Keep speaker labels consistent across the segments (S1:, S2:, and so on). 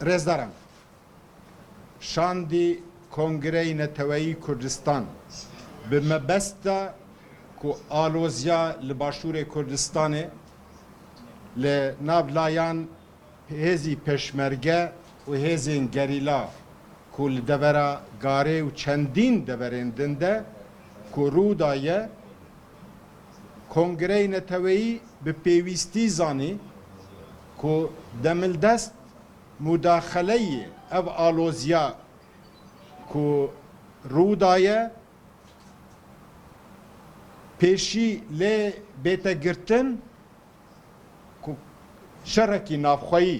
S1: Rêzdaran şandî Kongreyê Neteweyî Kurdistan bi mebesta ku alozya li Başûrê Kurdistanê li nav layan hêzî pêşmerge û hêzên gerîla ku li devera Garê û çendîn deverên din de ku rû daye, Kongreyê Neteweyî bi pêwîstî zanî ku demildest mudaxeleyê ev aloziya ku rû daye pêşî lê bête girtin ku şerekî navxweyî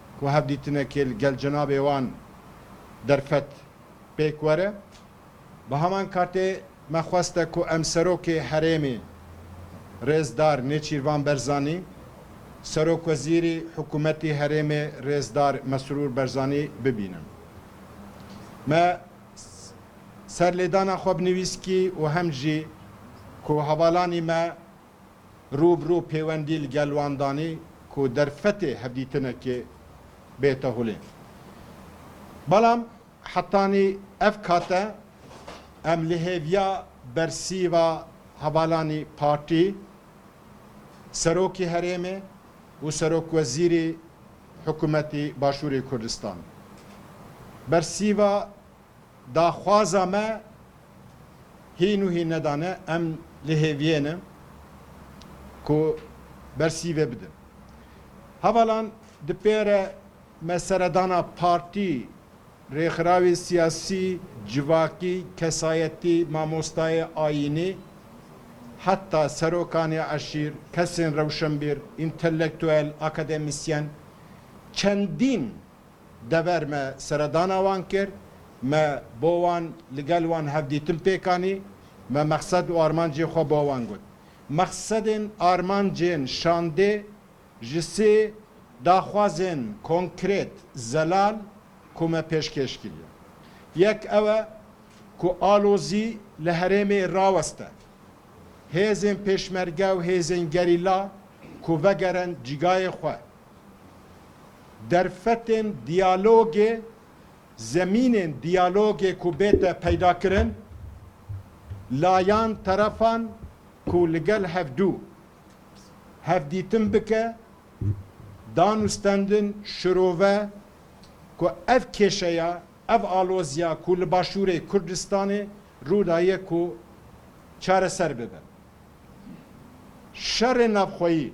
S1: ku hevdîtinekê li gel cenabê wan derfet pêk were. Bi heman katê me xwest e ku em Serokê Herêmê Rêzdar Nêçîrvan Berzanî, Serokwezîrî Hikûmetî Herêmê Rêzdar Mesrûr Berzanî bibînin. Me serlêdana xwe bi nivîskî û hem jî ku hevalanî me Rû bi rû pêwendî li gel wan danî ku derfetê hevdîtinekê bête holê. Belam hetanî ev kate em li hêviya bersîva hevalanî partî, serokî herêmê û serokwezîrî hikûmetî Başûrê Kurdistan. Bersîva daxwaza me Hîn û hîn nedane em li hêviyê ne ku ber sîvê bidin. Hevalan di pêre me seredana partî, rêxirawê siyasî, civakî, kesayetî, mamostayê, ayînî heta serokanê eşîr, kesên rewşenbîr, întelektuel, akademisyen çendîn Dever me seredana wan kir, me bo wan li gel wan hevdîtin pêk anî, me mexsed û armancên xwe bo wan got. Mexsedên armancên şandê ji sê daxwazên konkrêt zelal ku me pêşkêş kiriye. Yek ew e ku alozî li herêmê raweste. Hêzên pêşmerge û hêzên gerîla ku vegerin cîgayê xwe. Derfetên diyalogê, zemînên diyalogê ku bête peydakirin, layan, terefan ku li gel hevdu hevdîtin bike, danûstendin, şirove ku ev kêşeya, ev aloziya ku li Başûrê Kurdistanê rûdaye ku çareser bibe. Şerê navxweyî,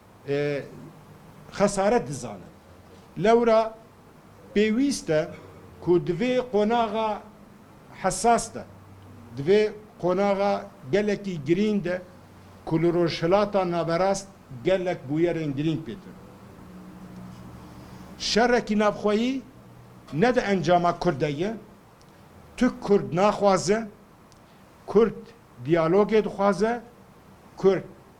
S1: xesaret dizanin. Lewra pêwîst e ku di vê qonaxa hesas de, di vê qonaxa gelekî girîng de ku li Rojhilata Naverast gelek bûyerên girîng pê tînin, şerekî navxweyî ne di encama Kurd de ye, tu Kurd naxwaze, Kurd diyalogê dixwaze, Kurd.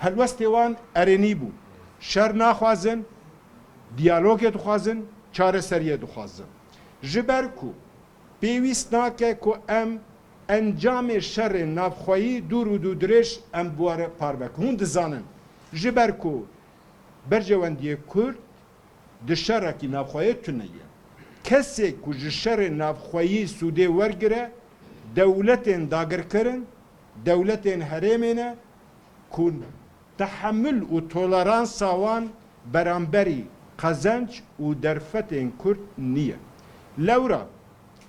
S1: Helwestê wan erênî bû, şer naxwazin, diyalogê dixwazin, çareseriyê dixwazin. Ji ber ku pêwîst nake ku em encamê şerên navxweyî dûr û dûdirêj em bi we re parve bikin. Hûn dizanin ji ber ku berjewendiyê Kurd di şerekî navxweyê tune ye. Kesê ku ji şerên navxweyî sûdê wergire, dewletên dagirkir in, Dewletên herêmê ne ku tehemul û toleransa wan beramberî qezenc û derfetên Kurd niye. Lewra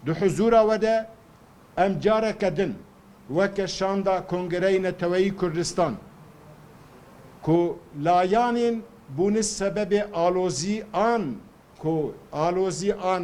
S1: di huzûra we de em careke din weke şanda Kongereyê Neteweyî Kurdistan ku layanên bûne sebebê alozî an ku alozî an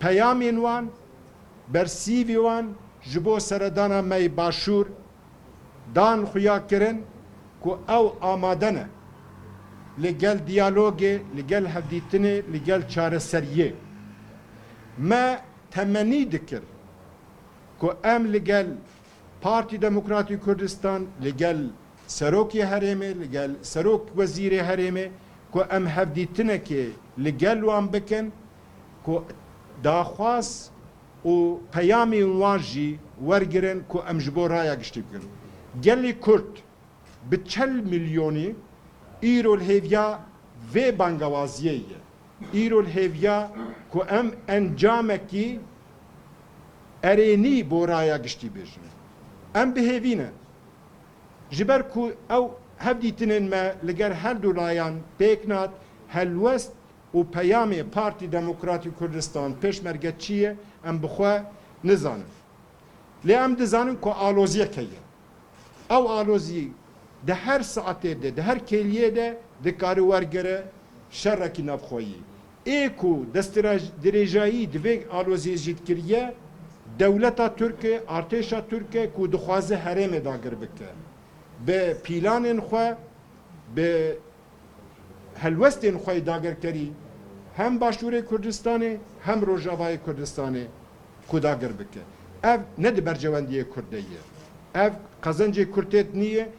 S1: Peyamên wan, bersîvî wan ji bo seredana me yê Başûr dan xuya kirin ku ew amade ne li gel diyalogê, li gel hevdîtinê, li gel çareseriyê. Me temenî dikir ku em li gel Partî Demokratî Kurdistan, li gel Serokê Herêmê li gel Serok Wezîrê Herêmê ku em hevdîtinekê li gel wan bikin ku daxwaz û peyamên wan jî wergirin ku em ji bo raya giştî bikin. Gelê Kurd bi çel milyonî îro li hêviya vê bangewaziyê ye. Îro li hêviya ku em encamekî erênî bo raya giştî bêjin. Em bi hêvî ne. Ji ber ku ew hevdîtinên me li ger her du layan pêk nat, helwest û peyamê Partî Demokratî Kurdistan, Pêşmerge çi ye em bi xwe nizanin. Lê em dizanin ku aloziyek heye. Ew alozî di her saetê de, di her kêliyê de dikare wergere şerekî navxweyî. Ê ku destdirêjayî di vê aloziyê jî dikiriye, dewleta Tirk e, artêşa Tirk e ku dixwaze herêmê dagir bike. Bi pîlanên xwe, bi helwestên xwe yê dagirkerî hem Başûrê Kurdistanê hem Rojavayê Kurdistanê xwe dagir bike. Ev ne di berjewendiyê Kurd de ye. Ev qezencê Kurd tê de nîyê,